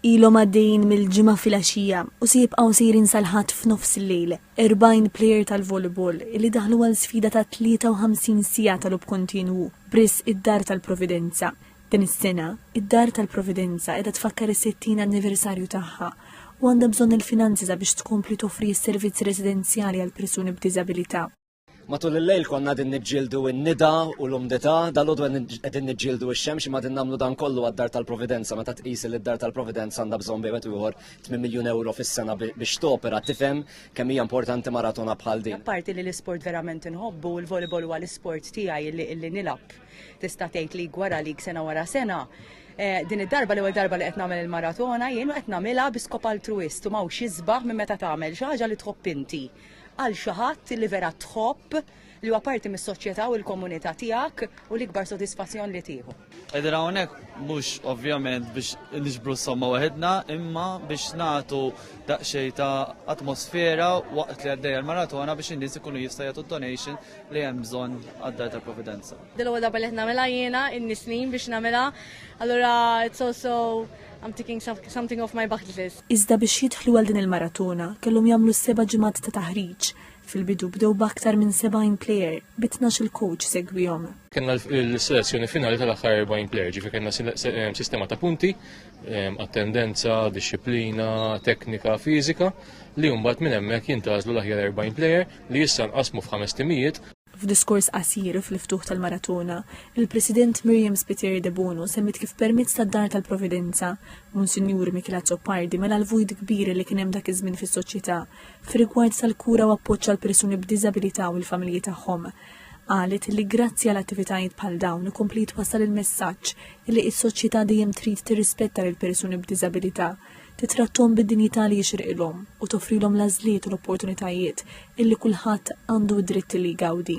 Ilhom għaddejjin mill-Ġimgħa filgħaxija u se jibqgħu sejrin sal-Ħadd f'nofs il-lejl, 40 plejer tal-volleyball li daħlu għal sfida ta' 53 siegħa ta' logħob kontinwu b'riżq id-Dar tal-Providenza. Din is-sena, id-Dar tal-Providenza qiegħda tfakkar is-60 anniversarju tagħha u għandha bżonn il-finanzi sabiex tkompli toffri s-servizzi residenzjali għall-persuni b'diżabilità. Matul il-lejl konna din niġġieldu n-nida u l-umdità, dal-għodu qegħdin niġġieldu x-xemx imma din nagħmlu dan kollu għad-dar tal-Providenza meta tqis li d-dar tal-Providenza għandha bżonn bejwet ieħor 8 miljun euro fis-sena biex topera tifhem kemm hija importanti maratona bħal din. Apparti li l-isport verament inħobbu u l-volleyball huwa l-isport tiegħi li illi nilab tista' tgħid li gwara lik sena wara sena. Eh, din id-darba l-ewwel darba li qed nagħmel il-maratona jien qed nagħmilha bi skop altruist u m'hawnx isbaħ minn meta tagħmel xi ħaġa li tħobb inti. għal xi ħadd li vera tħobb li huwa parti mis-soċjetà u l-komunità tiegħek u l-ikbar sodisfazzjon li tieħu. Qegħdin hawnhekk mhux ovvjament biex niġbru somma waħedna, imma biex nagħtu daqsxejn ta' atmosfera waqt li għaddejja l-maratona biex in-nies ikunu jista' jagħtu donation li hemm bżonn għad-dar tal-Providenza. Dil-għoda ballet nagħmilha jiena in-nisnin biex nagħmilha. Allura it's also I'm taking something off my bucket list. Iżda biex jidħlu għal din il-maratona kellhom jagħmlu seba' ġimgħat ta' taħriġ. Fil-bidu bdew b'aktar minn 70 plejer, bi tnax-il coach segwihom. Kellna l-selezzjoni finali tal-aħħar 40 plejer, ġifi kellna ehm, sistema ta' punti, ehm, attendenza, disciplina, teknika, fiżika, li mbagħad minn hemmhekk jintgħażlu l-aħjar 40 plejer li issa nqasmu f'ħames timijiet. F'diskors qasir fl-ftuħ tal-maratona, il-President Miriam Spiteri Debono semmiet kif permezz tad-Dar tal-Providenza, Monsinjur Michele Azzopardi mela l-vojt kbir li kien hemm dak iż-żmien fis-soċjetà fir-rigward tal-kura u appoġġ għal persuni b'diżabilità u l-familji tagħhom. Qalet li grazzi għal attivitajiet bħal dawn ikompli jitwassal il-messaġġ li s-soċjetà dejjem trid tirrispetta lill-persuni b'diżabilità titratthom bid-dinjità li jixirqilhom u toffrilhom l-għażliet u l-opportunitajiet illi kulħadd għandu d-dritt li jgawdi.